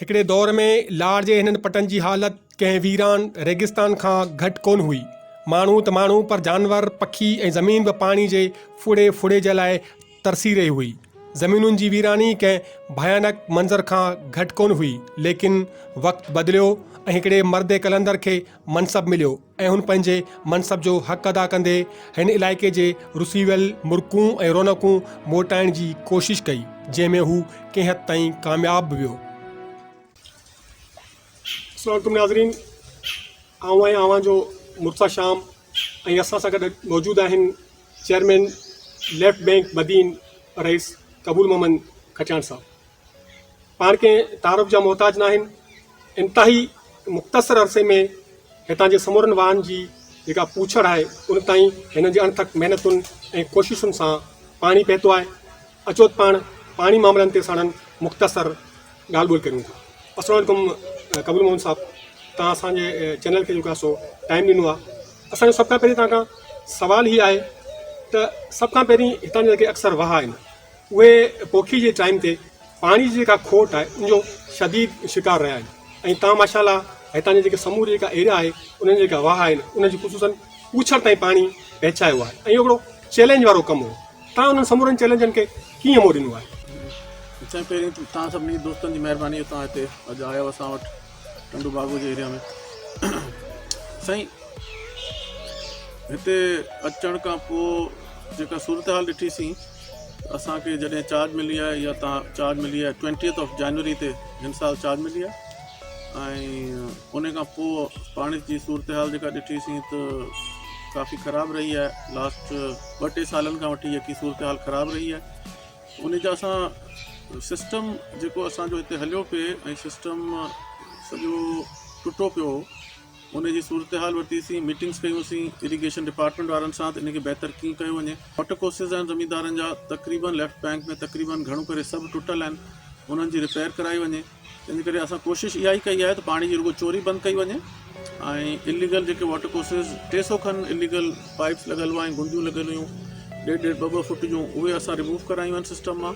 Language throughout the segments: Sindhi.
هڪڙي دور ۾ لاڙ جي هنن پٽن جي حالت ڪنهن ويران ريگستان کان گهٽ ڪونه هئي. ماڻهو ته ماڻهو پر جانور، پکي ۽ زمين به پاڻي جي ڦڙي ڦڙي جي لاء ترسي رهي هئي. زمينن جي ويراني ڪنهن ڀيانڪ منظر کان گهٽ ڪونه هئي. ليڪن وقت بدليو ۽ هڪڙي مرد قلندر کي منصب مليو. ۽ هن پنهنجي منصب جو حق ادا ڪندي هن علائقي جي رسي ويل مرڪون ۽ رونقون موٽائڻ جي ڪوشش ڪئي، جنهن ۾ هو ڪنهن حد تائين ڪامياب به ويو. السلام عليڪم ناظرين آئون ۽ اوهان جو مرتضيٰ شام ۽ اسان سان گڏ موجود آهن چيئرمين ليفٽ بينڪ بدين رئيس قبول محمد کچاڻ صاحب پاڻ ڪنهن تعارف جا محتاج ناهن. انتهائي مختصر عرصي ۾ هتان جي سمورن واهن جي جيڪا پوڇڙ آهي ان تائين هنن جي اڻٿڪ محنتن ۽ ڪوششن سان پاڻي پهتو آهي. اچوت پاڻ پاڻي معاملن تي ساڻن مختصر ڳالهه ٻولهه ڪريون ٿا. السلام عليڪم قبول موهن صاحب توهان اسان جي چينل کي جيڪو آهي سو ٽائيم ڏنو آهي اسان جو سڀ کان پهرين توهان کان سوال هي آهي ته سڀ کان پهرين هتان جا جيڪي اڪثر واهه آهن اهي پوکي جي ٽائيم تي پاڻي جي جيڪا کوٽ آهي ان جو شديد شڪار رهيا آهن ۽ تان ماشاء الله هتان جي جيڪي سموري جيڪا ايريا آهي انهن جي جيڪا واهه آهن ان جي خصوصن پوڇڙ تائين پاڻي پهچايو آهي ۽ اهو هڪڙو چئلينج وارو ڪم هو تان انهن سمورن چئلينجن کي ڪيئن مون ڏنو آهي. سائين پهرين ته تان سڀني دوستن جي مهرباني جو تان هتي اڄ آيو اسان وٽ ٽنڊو باگو جي ايريا ۾ سائين هتي اچڻ کان پوء جيڪا صورتحال ڏٺي سين اسان کي جڏهن چارج ملي آهي يا تان چارج ملي آهي ٽوينٽيئٿ آف جنوري تي هن سال چارج ملي آهي ۽ ان کان پوء پاڻي جي صورتحال جيڪا ڏٺي سين ته ڪافي خراب رهي آهي لاسٽ ٻه ٽي سالن کان وٺي يقي صورتحال خراب رهي آهي ان جا اسان سسٽم جيڪو اسانجو هتي هليو پئي ۽ سسٽم سڄو ٽٽو پيو ان جي صورتحال ورتي سين، ميٽنگس ڪيون سين اريگيشن ڊپارٽمينٽ وارن سان ته ان کي بهتر ڪيئن ڪيو وڃي. واٽر ڪورسز آهن زميندارن جا تقريبن ليفٽ بينڪ ۾ تقريبن گهڻو ڪري سڀ ٽٽل آهن انهن جي ريپيئر ڪرائي وڃي تنهنجي ڪري اسان ڪوشش اها ئي ڪئي آهي ته پاڻي جي رڳو چوري بند ڪئي وڃي ۽ اليگل جيڪي واٽر ڪورسز ٽي سئو کن اليگل پائيپس لڳل هئائين گنديون لڳل هيون ڏيڍ ڏيڍ ٻه ٻه فٽ جون اهي اسان رموو ڪرايون آهن سسٽم مان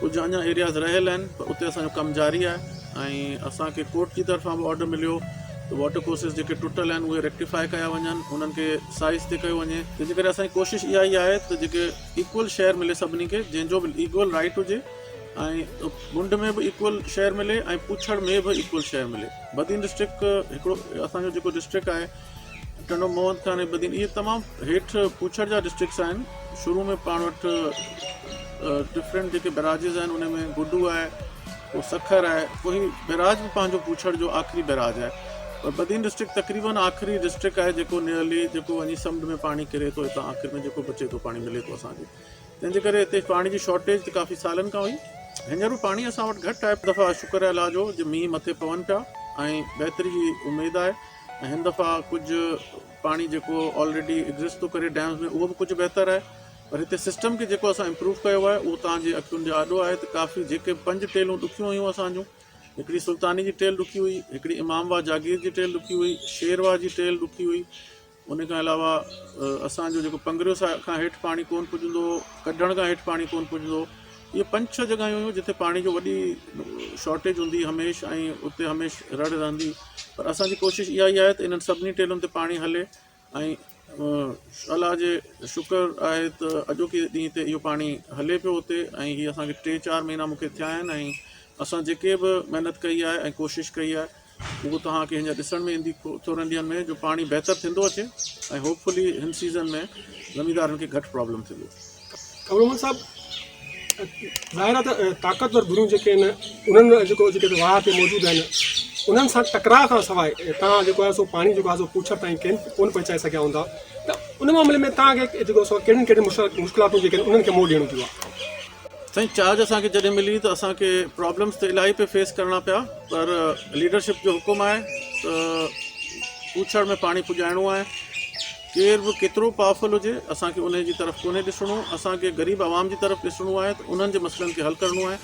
ڪجهه اڃا ايرياز رهيل آهن پر اتي اسانجو ڪم جاري آهي ۽ اسانکي ڪورٽ جي طرفان به آرڊر مليو ته واٽر ڪورسز جيڪي ٽٽل آهن اهي ريڪٽيفائي ڪيا وڃن انهن کي سائز تي ڪيو وڃي جنهنجي ڪري اسانجي ڪوشش اها ئي آهي ته جيڪي ايڪول شيئر ملي سڀني کي جنهن جو به ايڪول رائيٽ هجي ۽ منڊ ۾ به ايڪول شيئر ملي ۽ پڇڙ ۾ به ايڪول شيئر ملي بدين ڊسٽرڪٽ هڪڙو اسانجو جيڪو ڊسٽرڪٽ آهي ٽنڊو محمد خان ۽ بدين اهي تمام هيٺ پوڇڙ جا ڊسٽرڪس آهن شروع ۾ پاڻ وٽ ڊفرنٽ جيڪي بيراجز آهن ان ۾ گڊو آهي پوء سکر آهي پوء هي بيراج به پنهنجو پوڇڙ جو آخري بيراج آهي پر بدين ڊسٽرڪ تقريبن آخري ڊسٽرڪ آهي جيڪو نيئرلي جيڪو وڃي سمنڊ ۾ پاڻي ڪري ٿو هتان آخر ۾ جيڪو بچي ٿو پاڻي ملي ٿو اسان کي تنهن جي ڪري هتي پاڻي جي شارٽيج ته ڪافي سالن کان هئي هينئر به پاڻي اسان وٽ گهٽ آهي دفعا شڪر الله جو جو مينهن مٿي پون پيا ۽ بهتري جي اميد آهي ۽ هن دفعا ڪجهه پاڻي جيڪو آلريڊي ايگزسٽ ٿو ڪري ڊيمز ۾ اهو به ڪجهه بهتر آهي پر هتي سسٽم کي جيڪو اسان امپروو ڪيو آهي اهو توهان جي اکين جي آڏو آهي ته ڪافي جيڪي پنج ٽيلون ڏکيون هيون اسان جون هڪڙي سلطاني جي ٽيل ڏکي هئي هڪڙي امام واهه جاگير جي ٽيل ڏکي هئي شير واهه جي ٽيل ڏکي هئي ان کان علاوه اسان جو جيڪو پنگريو سا کان هيٺ پاڻي ڪون پڄندو هو ڪڍڻ کان هيٺ پاڻي ڪون پڄندو هو اهي پنج ڇهه جڳهيون هيون جتي پاڻي جو وڏي شارٽيج هوندي هميشھ ۽ اتي هميشھ رڙ رهندي پر اسان جي ڪوشش اها ئي آهي ته انهن سڀني ٽيلن تي پاڻي هلي ۽ الله جي شڪر آهي ته اڄوڪي ڏينهن تي اهو پاڻي هلي پيو اتي ۽ هي اسان کي ٽي چار مهينا مون کي ٿيا آهن ۽ اسان جيڪي به محنت ڪئي آهي ۽ ڪوشش ڪئي آهي اهو توهان کي هينئر ڏسڻ ۾ ايندي ٿورن ڏينهن ۾ جو پاڻي بهتر ٿيندو اچي ۽ هوپ فلي هن سيزن ۾ زميندارن کي گهٽ پرابلم ٿيندي. ابڙومل صاحب ظاهر آهي ته طاقتور ڌريون جيڪي آهن انهن جيڪو جيڪي هتي واهه تي موجود آهن انهن سان ٽڪراء کان سواء تان جيڪو آهي سو پاڻي جيڪو آهي سو پوڇڙ تائين ڪين ڪون پهچائي سگهيا هوندا ته ان معاملي ۾ تان کي جيڪو سو ڪهڙين ڪهڙين مشڪلاتون جيڪي آهن انهن کي منهن ڏيڻو پيو آهي. سائين چارج اسان کي جڏهن ملي ته اسان کي پرابلمس ته الاهي پئي فيس ڪرڻا پيا پر ليڊرشپ جو حڪم آهي ته پوڇڙ ۾ پاڻي پڄائڻو آهي ڪير به ڪيترو پاورفل هجي اسان کي ان جي طرف ڪونهي ڏسڻو اسان کي غريب عوام جي طرف ڏسڻو آهي ته انهن جي مسئلن کي حل ڪرڻو آهي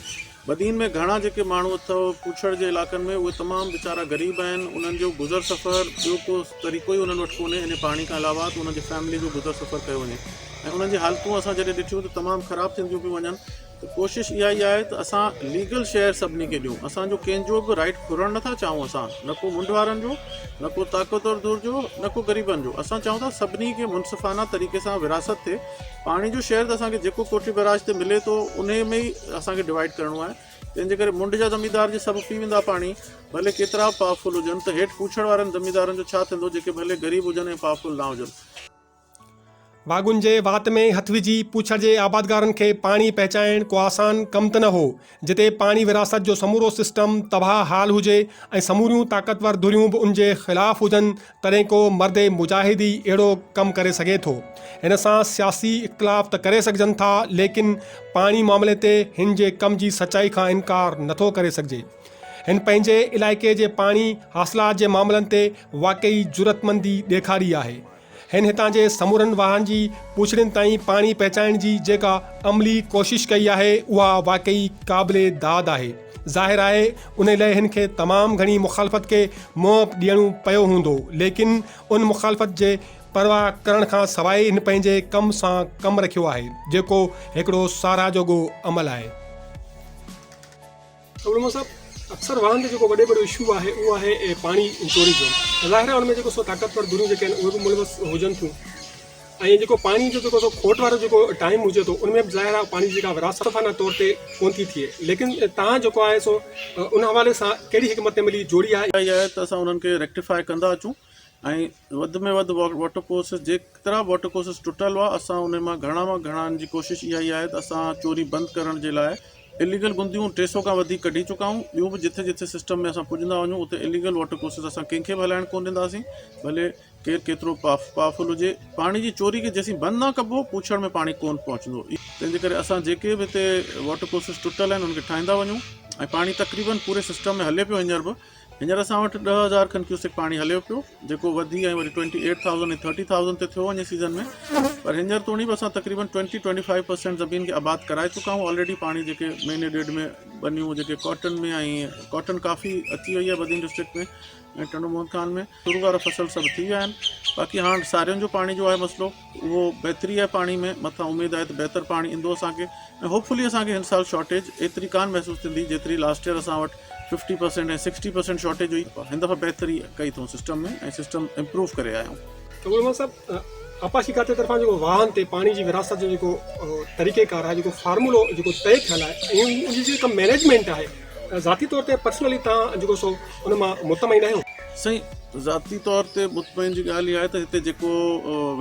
بدين ۾ گهڻا جيڪي ماڻهو اٿو پوڇڙ جي علائقن ۾ اهي تمام ويچارا غريب آهن انهن جو گذر سفر ٻيو ڪو طريقو ئي انهن وٽ ڪونهي ان پاڻي کان علاوه ته انهن جي فيملي جو گذر سفر ڪيو وڃي ۽ انهن جي حالتون اسان جڏهن ڏٺيون ته تمام خراب ٿينديون پيون وڃن ته ڪوشش اها ئي آهي ته اسان ليگل شيئر سڀني کي ڏيون اسان جو ڪنهن جو به رائيٽ ڦرڻ نه ٿا چاهون اسان نه ڪو منڍ وارن جو نه ڪو طاقتور ڌر جو نه ڪو غريبن جو اسان چاهون ٿا سڀني کي منصفانه طريقي سان ورهاست ٿئي پاڻي جو شيئر ته اسان کي جيڪو ڪوٺي بئراج تي ملي ٿو انهي ۾ ئي اسان کي ڊوائيڊ ڪرڻو آهي تنهن جي ڪري منڍ جا زميندار جي سڀ پي ويندا پاڻي ڀلي ڪيترا به پاورفل هجن ته هيٺ پوڇڙ وارن زميندارن جو ڇا ٿيندو جيڪي ڀلي غريب هجن ۽ پاورفل نه هجن. واڳن جي وات ۾ هٿ وجهي پوڇڙ جي آبادگارن کي پاڻي پهچائڻ ڪو آسان ڪم ته نه هو، جتي پاڻي ورهاست جو سمورو سسٽم تباهه حال هجي ۽ سموريون طاقتور ڌريون به ان جي خلاف هجن تڏهن ڪو مرد مجاهد ئي اهڙو ڪم ڪري سگهي ٿو. هن سان سياسي اختلاف ته ڪري سگهجن ٿا ليڪن پاڻي معاملي تي هن جي ڪم جي سچائي کان انڪار نه ٿو ڪري سگهجي. هن پنهنجي علائقي جي پاڻي حاصلات جي معاملن تي واقعي جرئتمندي ڏيکاري آهي. هن هتان جي سمورن واهن جي پڇڙين تائين پاڻي پهچائڻ جي جيڪا عملي ڪوشش ڪئي آهي اها واقعي قابل داد آهي. ظاهر آهي انهي لئه هن کي تمام گهڻي مخالفت کي منهن به ڏيڻو پيو هوندو ليڪن ان مخالفت جي پرواهه ڪرڻ کان سواء هن پنهنجي ڪم سان ڪم رکيو آهي جيڪو هڪڙو ساراهه جوڳو عمل آهي. علماء صاحب اڪثر وڙهن تي جيڪو وڏي وڏو اشو آهي اهو آهي پاڻي ۽ ٽوريزم ظاهر آهي ان ۾ جيڪو سو طاقتور ڌريون جيڪي آهن اهي به ملوث هجن ٿيون ۽ جيڪو پاڻي جو جيڪو سو کوٽ وارو جيڪو ٽائيم هجي ٿو ان ۾ به ظاهر آهي پاڻي جي جيڪا وراثتفانه طور تي ڪون ٿي ٿئي ليڪن تهان جيڪو آهي سو ان حوالي سان ڪهڙي حڪمت عملي جوڙي آهي. اها اها آهي ته اسان انهن کي ريڪٽيفاء ڪندا اچون. ۽ وڌ ۾ وڌ واٽر ڪورسز جيترا به واٽر ڪورسز ٽٽل هئا اسان انهن مان گهڻا مان گهڻا ان جي ڪوشش اها ئي آهي ته اسان چوري بند ڪرڻ جي لاء اليگل گنديون ٽي سئو کان وڌيڪ ڪڍي چڪا آهيون ٻيون به جٿي جٿي سسٽم ۾ اسان پڄندا وڃون اتي اليگل واٽر ڪورسز اسان ڪنهن کي به هلائڻ ڪونه ڏينداسين ڀلي ڪير ڪيترو پاورفل هجي پاڻي جي چوري کي جيسين بند نه ڪبو پوڇڙ ۾ پاڻي ڪونه پهچندو تنهن جي ڪري اسان جيڪي به هتي واٽر ڪورسز ٽٽل آهن ان کي ٺاهيندا وڃون ۽ پاڻي تقريبن پوري سسٽم ۾ هلي پيو هينئر به هينئر اسان وٽ ڏهه هزار کن ڪيوسڪ پاڻي هليو پيو جيڪو وڌي ۽ وري twenty eight thousand ۽ thirty thousand تي ٿيو وڃي سيزن ۾ پر هينئر توڻي به اسان تقريبن ٽوئنٽي ٽوئنٽي فائيو پرسينٽ زمين کي آباد ڪرائي چڪا آهيون آلريڊي پاڻي جيڪي مهيني ڏيڍ ۾ ٻنيون جيڪي ڪاٽن ۾ ۽ ڪاٽن ڪافي اچي وئي آهي بدين ڊسٽرڪٽ ۾ ۽ ٽنڊو موهن خان ۾ شروع وارا فصل سڀ ٿي ويا آهن باقي هاڻ سارين جو پاڻي جو آهي مسئلو اهو بهتري آهي پاڻي ۾ مٿان اميد آهي ته بهتر پاڻي ايندو اسان کي ۽ هوپ فلي اسان کي هن سال شارٽيج ايتري ڪانه محسوس ٿيندي جيتري لاسٽ ايئر اسان وٽ fifty percent ۽ sixty percent shortage هئي هن دفعي بهتري ڪئي اٿئون سسٽم ۾ ۽ سسٽم امپروو ڪري آيا آهيون. ڪمرمان صاحب آبپاشي کاتي طرفان جيڪو واهن تي پاڻي جي ورهاست جو جيڪو طريقيڪار آهي جيڪو فارمولو جيڪو طئي ٿيل آهي ۽ ان جي جيڪا مينيجمينٽ آهي ذاتي طور تي پرسنلي توهان جيڪو سو ان مان مطمئن آهيو؟ سائين ذاتي طور تي مطمئن جي ڳالهه اها آهي ته هتي جيڪو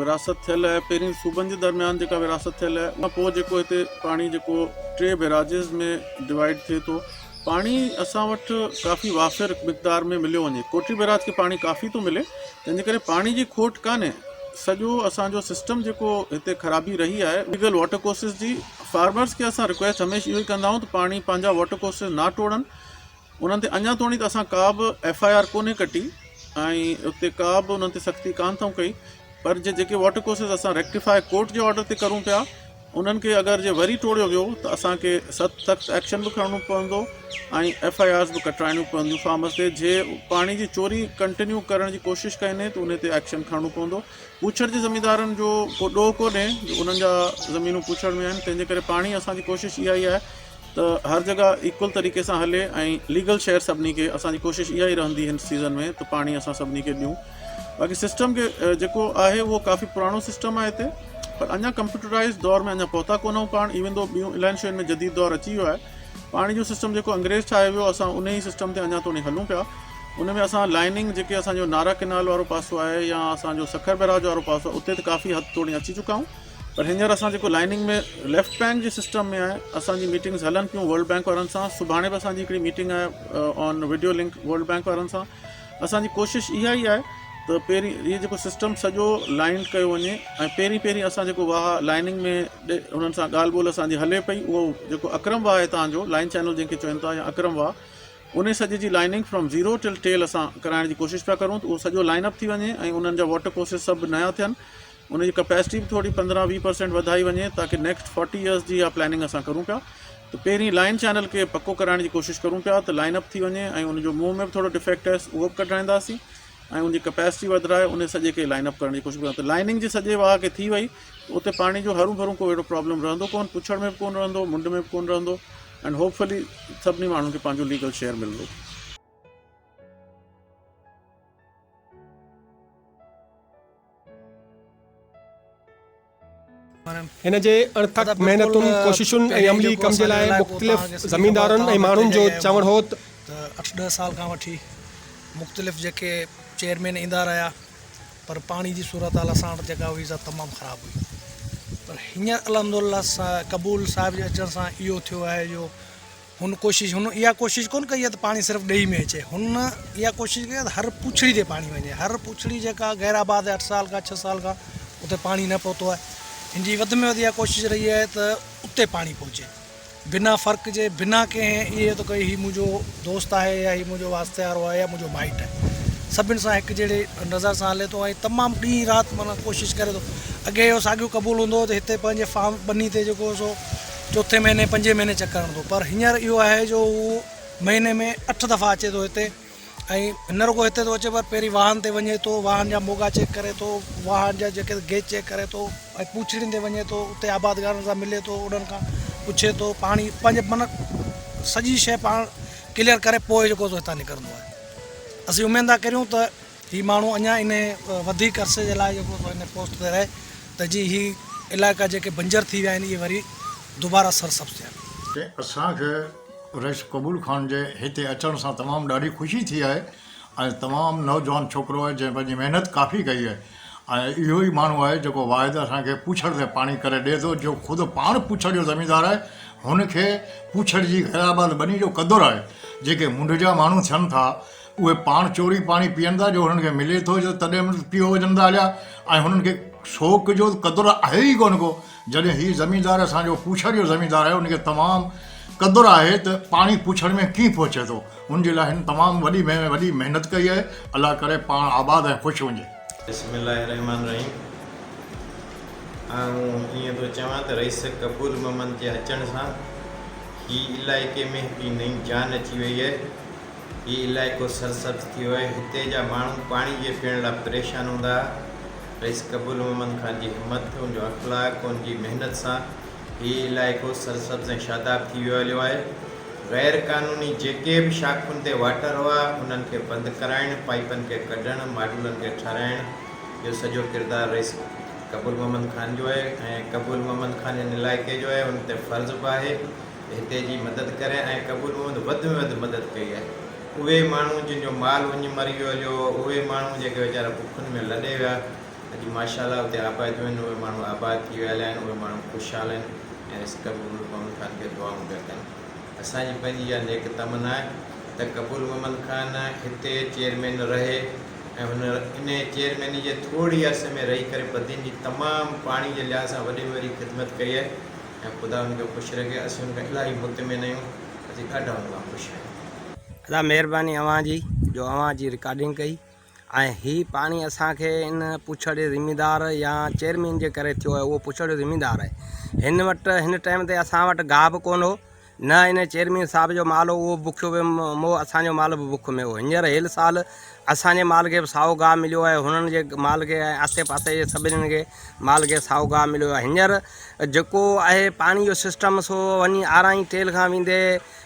ورهاست ٿيل آهي پهرين صوبن جي درميان جيڪا ورهاست ٿيل آهي ان پوء جيڪو هتي پاڻي جيڪو ٽي بيراجز ۾ ڊوائيڊ ٿئي ٿو پاڻي اسان وٽ ڪافي وافر مقدار ۾ مليو وڃي ڪوٽي بيراج کي پاڻي ڪافي ٿو ملي تنهنجي ڪري پاڻي جي کوٽ ڪانهي سڄو اسان جو سسٽم جيڪو هتي خرابي رهي آهي ليگل واٽر ڪورسز جي فارمرز کي اسان رڪويسٽ هميشھ اهو ئي ڪندا آهيون ته پاڻي پنهنجا واٽر ڪورسز نه ٽوڙن انهن تي اڃا توڻي ته اسان ڪا به ايف آء آر ڪونهي ڪٽي ۽ اتي ڪا به انهن تي سختي ڪانه ٿئون ڪئي پر جي جيڪي واٽر ڪورسز اسان ريڪٽيفاء ڪورٽ جي آرڊر تي ڪرون پيا انهن کي اگر جي وري ٽوڙيو ويو ته اسان کي سخت سخت ايڪشن به کڻڻو پوندو ۽ ايف آء آرز به ڪٽرائڻيون پونديون فارمرز تي جي پاڻي جي چوري ڪنٽينيو ڪرڻ جي ڪوشش ڪئي ني ته انهي تي ايڪشن کڻڻو پوندو پوڇڙ جي زميندارن جو ڪو ڏوهه ڪونهي جو انهن جا زمينون پوڇڙ ۾ آهن تنهن جي ڪري پاڻ ئي اسان جي ڪوشش اها ئي آهي ته هر جڳهه ايڪول طريقي سان هلي ۽ ليگل شيئر سڀني کي اسان جي ڪوشش اها ئي رهندي هن سيزن ۾ ته پاڻي اسان سڀني کي ڏيون باقي سسٽم کي جيڪو آهي اهو ڪافي پراڻو سسٽم آهي هتي پر اڃا ڪمپيوٽرائز دور ۾ اڃا پهتا ڪونهون پاڻ ايون دو ٻيون الائن شين ۾ جديد دور اچي ويو آهي پاڻي جو سسٽم جيڪو انگريز ٺاهي ويو اسان ان ئي سسٽم تي اڃا توڻي هلون پيا ان ۾ اسان لائننگ جيڪي اسان جو نارا ڪينال وارو پاسو آهي يا اسان جو سکر بيراج وارو پاسو آهي اتي ته ڪافي حد توڻي اچي چڪا آهيون پر هينئر اسان جيڪو لائننگ ۾ ليفٽ بينڪ جي سسٽم ۾ آهي اسان جي ميٽنگز هلن پيون ورلڊ بينڪ وارن سان سڀاڻي به اسان جي هڪڙي ميٽنگ آهي on video link World Bank وارن سان اسان جي ڪوشش اها ئي آهي ته پهرين هي جيڪو سسٽم سڄو لائنڊ ڪيو وڃي ۽ پهرين پهرين اسان جيڪو واهه لائننگ ۾ انهن سان ڳالهه ٻولهه اسان جي هلي پئي اهو جيڪو اڪرم واهه هتان جو لائن چينل جنهن کي چون ٿا يا اڪرم واهه ان سڄي جي lining from zero till tail اسان ڪرائڻ جي ڪوشش پيا ڪرون ته اهو سڄو لائن اپ ٿي وڃي ۽ انهن جا واٽر ڪورسز سڀ نيا ٿين ان جي ڪپيسٽي به ٿوري پندرهن ويهه پرسينٽ وڌائي وڃي تاڪي نيڪسٽ فورٽي ايئرس جي اها پلاننگ اسان ڪرون پيا ته پهرين لائن چينل کي پڪو ڪرائڻ جي ڪوشش ڪرون پيا ته لائن اپ ٿي وڃي ۽ ان جو منهن ۾ به ٿورو ڊفيڪٽ هيس اهو به ڪڍرائينداسين ۽ ان جي ڪپيسٽي وڌرائي ان سڄي کي لائن اپ ڪرڻ جي ڪوشش ڪرون ته لائننگ جي سڄي واهه کي ٿي وئي ته اتي پاڻي جو هرون ڀرون ڪو اهڙو پرابلم رهندو ڪون پڇڙ ۾ به ڪون رهندو منڊ ۾ به ڪون رهندو اينڊ هوپ فلي سڀني ماڻهن کي پنهنجو ليگل شيئر ملندو هن جي اڻٿڪ محنتن، ڪوششن ۽ عملي ڪم جي لاء مختلف زميندارن ۽ ماڻهن جو چوڻ هو ته. ته اٺ ڏهه سال کان وٺي مختلف جيڪي چيئرمين ايندا رهيا پر پاڻي جي صورتحال اسان وٽ جيڪا هئي سا تمام خراب هئي پر هينئر الحمدالله قبول صاحب جي اچڻ سان اهو ٿيو آهي جو هن ڪوشش هن اها ڪوشش ڪونه ڪئي آهي ته پاڻي صرف ڏيئي ۾ اچي هن اها ڪوشش ڪئي آهي ته هر پوڇڙي تي پاڻي وڃي هر پوڇڙي جيڪا غير آباد اٺ سال کان ڇهه سال کان اتي پاڻي نه پهتو آهي هن جي وڌ ۾ وڌ اها ڪوشش رهي آهي ته اتي پاڻي پهچي بنا فرق جي بنا ڪنهن اهي ته ڪئي هي منهنجو دوست آهي يا هي منهنجو واسطي وارو آهي يا منهنجو مائٽ آهي سڀني سان هڪ جهڙي نظر سان هلي ٿو ۽ تمام ڏينهن رات مانا ڪوشش ڪري ٿو اڳي اهو ساڳيو قبول هوندو هو ته هتي پنهنجي فارم ٻني تي جيڪو سو چوٿين مهيني پنجين مهيني چڪر هڻندو پر هينئر اهو آهي جو هو مهيني ۾ اٺ دفعا اچي ٿو هتي ۽ نه رڳو هتي اچي پر پهرين واهن تي وڃي ٿو واهن جا موڳا چيڪ ڪري ٿو واهن جا جيڪي گيچ چيڪ ڪري ٿو ۽ پوڇڙين تي وڃي ٿو اتي آبادگارن سان ملي ٿو انهن کان پڇي ٿو پاڻي پنهنجي من سڄي شيء پاڻ ڪليئر ڪري پوء جيڪو هتان نڪرندو آهي اسين اميد ٿا ڪريون ته هي ماڻهو اڃا ان وڌيڪ عرصي جي لاء جيڪو هن پوسٽ تي رهي ته جي هي علائقا جيڪي بنجر ٿي ويا آهن اهي وري دوباره سرسبز ٿين. ته اسان کي رئيس قبول خان جي هتي اچڻ سان تمام ڏاڍي خوشي ٿي آهي ۽ تمام نوجوان ڇوڪرو آهي جنهن پنهنجي محنت ڪافي ڪئي آهي ۽ اهو ئي ماڻهو آهي جيڪو واحد اسان کي پوڇڙ تي پاڻي ڪري ڏئي ٿو جو خود پاڻ پوڇڙ جو زميندار آهي هن کي پوڇڙ جي غيرآباد ٻني جو قدر آهي جيڪي منڍ جا ماڻهو ٿين ٿا اهي پاڻ چوري پاڻي پيئن ٿا جو هنن کي ملي ٿو جو تڏهن به پيئو وڃن ٿا هليا ۽ هنن کي سوڪ جو قدر آهي ئي ڪونه ڪو جڏهن هي زميندار اسان جو پوڇر جو زميندار آهي ان کي تمام قدر آهي ته پاڻي پوڇر ۾ ڪيئن پهچي ٿو ان جي لاء هن تمام وڏي ۾ وڏي محنت ڪئي آهي الله ڪري پاڻ آباد ۽ خوش وڃي. بسم الله الرحمٰن الرحيم آئون ائين ٿو چوان ته رئيس قبول محمد جي اچڻ سان هي علائقي ۾ هڪڙي نئين جان اچي وئي آهي هي علائقو سرسبز ٿيو آهي. هتي جا ماڻهو پاڻي جي پيئڻ لاء پريشان هوندا ها. رئيس قبول محمد خان جي همت، ان جو اخلاق، ان جي محنت سان هي علائقو سرسبز ۽ شاداب ٿي ويو هليو آهي. غير قانوني جيڪي به شاخن تي واٽر هئا، انهن کي بند ڪرائڻ، پائيپن کي ڪڍڻ، ماڊولن کي ٺهرائڻ جو سڄو ڪردار رئيس قبول محمد خان جو آهي ۽ قبول محمد خان هن علائقي جو آهي، ان تي فرض به آهي. هتي جي مدد ڪري ۽ قبول محمد وڌ ۾ وڌ مدد ڪئي آهي اهي ماڻهو جن جو مال وڃي مري ويو هليو اهي ماڻهو جيڪي ويچارا بکن ۾ لڏي ويا اڄ ماشاءالله اتي آباديون آهن اهي ماڻهو آباد ٿي ويل آهن اهي ماڻهو خوشحال آهن ۽ رس قبول محمد خان کي دعائون پيا ڪن اسان جي پنهنجي اها نيڪ تمنا آهي ته قبول محمد خان هتي چيئرمين رهي ۽ هن انهي چيئرميني جي ٿورڙي عرصي ۾ رهي ڪري بدين جي تمام پاڻي جي لحاظ سان وڏي ۾ وڏي خدمت ڪئي آهي ۽ خدا هن کي خوش رکي اسين هن کان الاهي مطمئن آهيون اسين ڏاڍا هن کان خوش آهيون. ادا مهرباني اوهان جي جو اوهان جي رڪارڊنگ ڪئي ۽ هي پاڻي اسان کي ان پڇڙ جي ذميدار يا چيئرمين جي ڪري ٿيو آهي اهو پڇڙ جو ذميدار آهي هن وٽ هن ٽائيم تي اسان وٽ گاهه به ڪون هو نه ان چيئرمين صاحب جو مال اهو به بکيو ويم هو اسان جو مال به بک ۾ هو هينئر هيل سال اسان جي مال کي به سائو گاهه مليو آهي هنن جي مال کي ۽ آسي پاسي جي سڀنين کي مال کي سائو گاهه مليو آهي هينئر جيڪو آهي پاڻي جو سسٽم سو وڃي آرائين ٽيل کان ويندي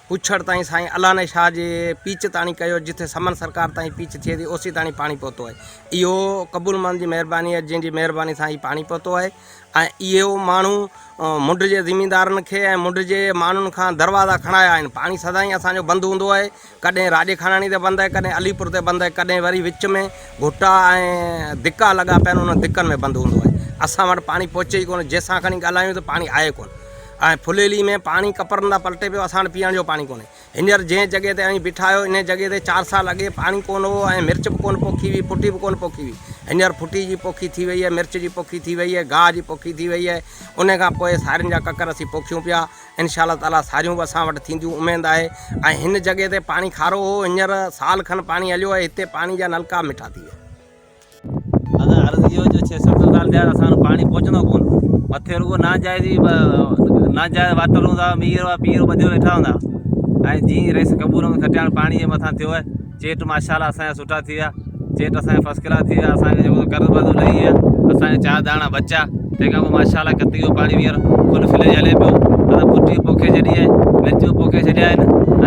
پڇڙ تائين سائين الاني شاهه جي پيچ تاڻي ڪيو جتي سمن سرڪار تائين پيچ ٿئي ٿي اوسي تاڻي پاڻي پهتو آهي اهو قبول مان جي مهرباني آهي جنهن جي مهرباني سان هي پاڻي پهتو آهي ۽ اهي ماڻهو منڍ جي زميندارن کي ۽ منڍ جي ماڻهن کان دروازا کڻايا آهن. پاڻي سدائين اسان جو بند هوندو آهي. ڪڏهن راڄي خاناڻي تي بند آهي، ڪڏهن علي پور تي بند آهي، ڪڏهن وري وچ ۾ گهٽا ۽ دڪا لڳا پيا آهن، انهن دڪن ۾ بند هوندو آهي. اسان وٽ پاڻي پهچي ئي ڪونه، جنهن سان کڻي ڳالهايون ته پاڻي آهي ڪونه ۽ ڦليلي ۾ پاڻي ڪپرن تان پلٽي پيو، اسان وٽ پيئڻ جو پاڻي ڪونهي. هينئر جنهن جڳهه تي اوهين بيٺا آهيو، انهيء جڳهه تي چار سال اڳي پاڻي ڪونه هو ۽ مرچ به ڪونه پوکي هئي، ڦٽي به ڪونه پوکي هئي. هينئر ڦٽي جي پوکي ٿي وئي آهي، مرچ جي پوکي ٿي وئي آهي، گاهه جي پوکي ٿي وئي آهي. انهيء کان پوء سارين جا ڪڪر اسين پوکيون پيا. انشاء الله تعاليٰ ساريون به اسان وٽ ٿينديون، اميد آهي. ۽ هن جڳهه تي پاڻي کارو هو، هينئر سال کن پاڻي هليو آهي، هتي پاڻي جا نلڪا مٺا ٿي ويا. ادا عرض اهو جو ڇهه ست سال ٿيا اسان وٽ پاڻي پهچندو ڪون مٿي رڳو ناجائز ئي ناجائز واٽر هوندا هئا مينهن رڳو پيئرو ٻڌي ويٺا هوندا هئا ۽ جيئن رئيس قبور ۾ کٽيا هاڻي پاڻي جي مٿان ٿيو آهي چيٽ ماشا الله اسان جا سٺا ٿي ويا چيٽ اسان جا فسٽ ڪلاس ٿي ويا اسان کي جيڪو قرض ورض لهي ويا اسان کي چار داڻا بچا تنهن کان پوء ماشا الله ڪتي جو پاڻي ٻيهر فل فليج هلي پيو اسان پٽي پوکي ڇڏي آهي مرچيون پوکي ڇڏيا آهن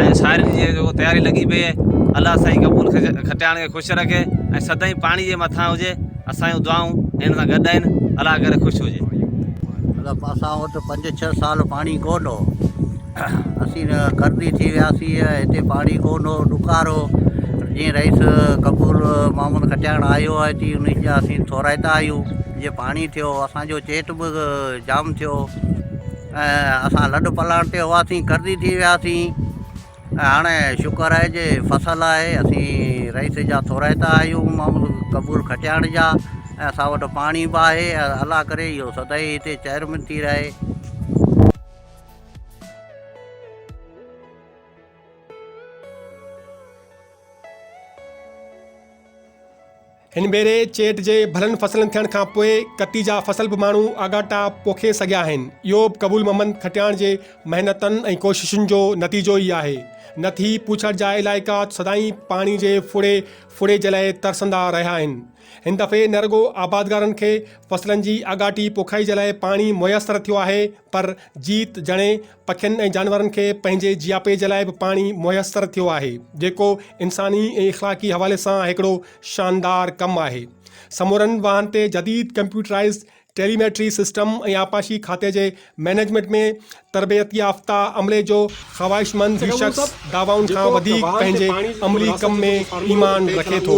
۽ سارين جي جيڪو تياري لڳي پئي آهي الله سائين قبول کٽياڻ کي خوش خوش رکي ۽ سدائين پاڻي جي مٿان هجي اسان جون دعائون هن سان گڏ آهن الله ڪري خوش هجي. مطلب اسان وٽ پنج ڇهه سال پاڻي ڪون هو اسين قرضي ٿي وياسين هتي پاڻي ڪون هو ڏکار هو جيئن رئيس قبول محمد کٽياڻ آيو آهي تي ان جا اسين ٿورائتا آهيون جي پاڻي ٿيو اسانجو چيٽ به جام ٿيو ۽ اسان لڏ پلاڻ تي هئاسين قرضي ٿي وياسين ۽ هاڻي شڪر آهي جي فصل آهي اسين رئيس جا ٿورائتا آهيون معمول قبول کٽياڻ جا ۽ اسان وٽ پاڻي به آهي ۽ الله ڪري اهو سدائين هتي چهرمند ٿي رهي هن ڀيري چيٽ جي ڀلن فصلن ٿيڻ کان پوء ڪتي جا فصل به ماڻهو آڳاٽا پوکي سگهيا آهن. اهو به قبول محمد کٽياڻ جي محنتن ۽ ڪوششن جو نتيجو ئي آهي. نه ٿي پوڇڻ جا علائقا سدائين پاڻي جي ڦڙي ڦڙي جي لاء ترسندا رهيا آهن. هن دفعي نه رڳو آبادگارن کي فصلن جي آڳاٽي پوکائي جي لاء پاڻي ميسر ٿيو آهي پر جيت جڻي پکين ۽ جانورن کي پنهنجي جياپي جي لاء به پاڻي ميسر ٿيو آهي، جيڪو انساني ۽ اخلاقي حوالي سان هڪڙو شاندار ڪم آهي. سمورن واهن تي جديد ڪمپيوٽرائيز ٽيليميٽري سسٽم ۽ آبپاشي کاتي جي مئنيجمينٽ ۾ تربيتيافته عملي جو خواهشمند هي شخص دعوائن کان وڌيڪ پنهنجي عملي ڪم ۾ ايمان رکي ٿو.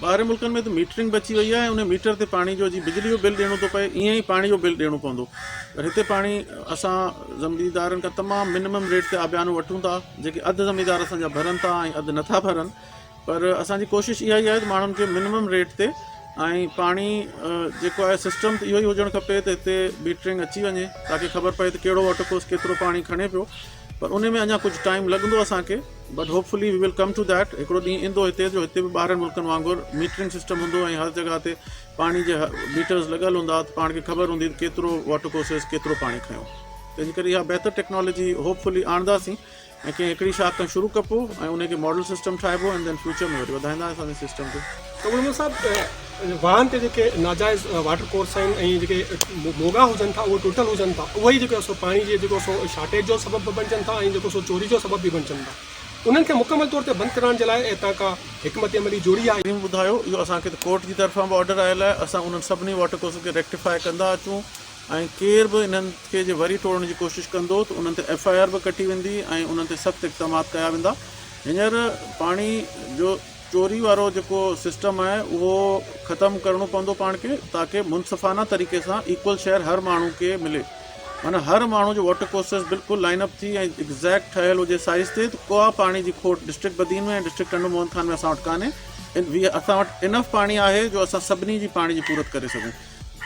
ٻاهرين ملڪن ۾ ته ميٽرنگ به اچي وئي آهي ۽ انهي ميٽر تي پاڻي جو جيئن بجلي جو بل ڏيڻو ٿو پئي ائين ئي پاڻي جو بل ڏيڻو پوندو پر هتي پاڻي اسان زميندارن کان تمام منمم ريٽ تي آبيانو وٺون ٿا جيڪي اڌ زميندار اسان جا ڀرن ٿا ۽ اڌ نٿا ڀرن پر اسان جي ڪوشش اها ئي آهي ته ماڻهن کي منمم ريٽ تي ۽ پاڻي جيڪو آهي سسٽم ته اهو ئي هجڻ کپي ته هتي ميٽرنگ اچي وڃي تاڪي خبر پئي ته ڪهڙو واٽر ڪورس ڪيترو پاڻي کڻي پيو پر انهي ۾ اڃا ڪجهه ٽائيم لڳندو اسان کي but hopefully we will come to that هڪڙو ڏينهن ايندو هتي جو هتي به ٻاهرن ملڪن وانگر ميٽرنگ سسٽم هوندو ۽ هر جڳهه تي پاڻي جي ميٽرز لڳل هوندا ته پاڻ کي خبر هوندي ته ڪيترو واٽر ڪورسز ڪيترو پاڻي کنيو تنهنجي ڪري اها بهتر ٽيڪنالاجي هوپ فلي آڻنداسين ۽ ڪنهن هڪڙي شاخ کان شروع ڪبو ۽ انهي کي ماڊل سسٽم ٺاهبو ۽ دين فيوچر ۾ وري وڌائيندا اسان سسٽم کي ڪمرمل صاحب وڻن تي جيڪي ناجائز واٽر ڪورس آهن ۽ جيڪي موڳا هجن ٿا اهي ٽٽل هجن ٿا اهي ئي جيڪو سو پاڻي جي جيڪو سو شارٽيج جو سبب به بڻجن ٿا ۽ جيڪو سو چوري جو سبب به بڻجن ٿا انهن کي مڪمل طور تي بند ڪرائڻ جي لاء اتان ڪا حڪمت عملي جوڙي آهي. ٽيم ٻڌايو اهو اسان کي ته ڪورٽ جي طرفان به آرڊر آيل آهي اسان انهن سڀني واٽر ڪورسز کي ريڪٽيفاء ڪندا اچون ۽ ڪير به انهن کي جي وري ٽوڙڻ جي ڪوشش ڪندو ته انهن تي ايف آء آر به ڪٽي ويندي ۽ انهن تي سخت اقدامات ڪيا ويندا هينئر پاڻي جو چوري وارو جيڪو سسٽم آهي اهو ختم ڪرڻو پوندو پاڻ کي تاڪه منصفانه طريقي سان ايڪول شيئر هر ماڻهو کي ملي معنيٰ هر ماڻهو جو واٽر ڪورسز بلڪل لائن اپ ٿي ۽ ايگزيڪٽ ٺهيل هجي سائيز تي ته ڪا پاڻي جي کوٽ ڊسٽرڪٽ بدين ۾ ۽ ڊسٽرڪٽ ٽنڊو موهن خان ۾ اسان وٽ ڪانهي اسان وٽ انف پاڻي آهي جو اسان سڀني جي پاڻي جي پورت ڪري سگهون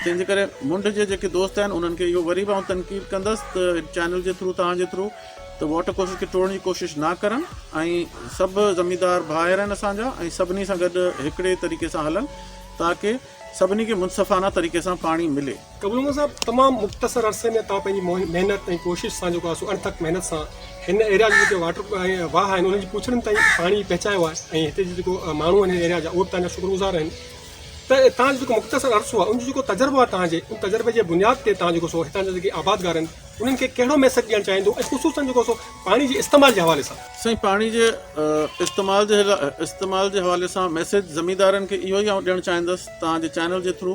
تنهن جي ڪري منڊ جي جيڪي دوست آهن انهن کي اهو وري به آئون تنقيد ڪندس ته چينل جي ٿرو توهان جي ٿرو ته واٽر ڪورسز کي ٽوڙڻ جي ڪوشش نه ڪرن ۽ سڀ زميندار ڀائر آهن اسان جا ۽ سڀني سان گڏ هڪڙي طريقي سان هلن تاڪه سڀني کي منصفانه طريقي سان پاڻي ملي. قبول محمد صاحب تمام مختصر عرصي ۾ توهان پنهنجي محنت ۽ ڪوشش سان جيڪو آهي سو اڻٿڪ محنت سان هن ايريا جي جيڪي واٽر واهه آهن انهن جي پوڇڙين تائين پاڻي پهچايو آهي ۽ هتي جي جيڪو ماڻهو آهن هن ايريا جا اهو به تنهنجا شڪر گذار آهن ته تنهنجو جيڪو مختصر عرصو آهي ان جو جيڪو تجربو آهي تنهنجي ان تجربي جي بنياد تي تنهنجو جيڪو سو هتان جا جيڪي آبادگار آهن انهن کي ڪهڙو ميسيج ڏيڻ چاهيندو ۽ خصوصن جيڪو سو پاڻي جي استعمال جي حوالي سان. سائين پاڻي جي استعمال جي استعمال جي حوالي سان ميسيج زميندارن کي اهو ئي آئون ڏيڻ چاهيندس توهان جي چينل جي ٿرو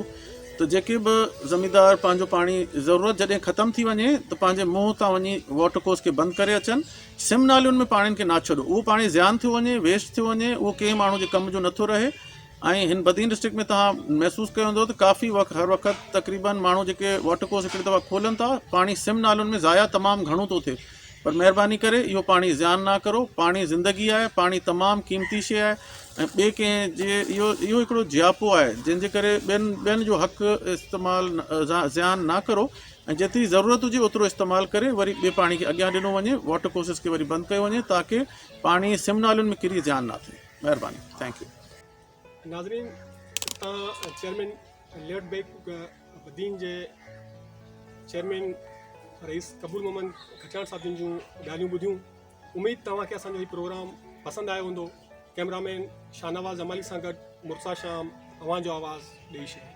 ته جيڪي به زميندار پنهنجو پاڻي ضرورت جڏهن ختم ٿي وڃي ته پنهنجي منهن تان وڃي واٽر ڪوس کي بند ڪري اچن سم نالين ۾ پاڻين کي نا ڇڏو اهو پاڻي زيان ٿيو وڃي ويسٽ ٿيو وڃي اهو ڪنهن ماڻهو جي ڪم جو نٿو رهي ۽ هن بدين ڊسٽرڪٽ ۾ توهان محسوس ڪيو هوندو ته ڪافي وقت هر وقت تقريبن ماڻهو جيڪي واٽر ڪورس هڪڙي دفعا کولن ٿا پاڻي سم نالن ۾ ضايع تمام گهڻو ٿو ٿئي پر مهرباني ڪري اهو پاڻي زيان نا ڪرو پاڻي زندگي آهي پاڻي تمام قيمتي شي آهي ۽ ٻي ڪنهن جي اهو اهو هڪڙو جياپو آهي جنهن جي ڪري ٻين ٻين جو حق استعمال زيان نا ڪرو ۽ جيتري ضرورت هجي اوترو استعمال ڪري وري ٻي پاڻي کي اڳيان ڏنو وڃي واٽر ڪورسز کي وري بند ڪيو وڃي تاڪي پاڻي سم نالن ۾ ڪري زيان نا ٿئي مهرباني ٿينڪ يو ناظرين اتان چيئرمين ليئرڊ بيڪ بدين جي چيئرمين رئيس قبول محمد کچان صاحب جن جون ڳالهيون ٻڌيون اميد توهان کي اسان جو هي پروگرام پسند آيو هوندو ڪيمرامين شاهنواز امالي سان گڏ مرسا شام اوهان جو آواز ڏيئي شهر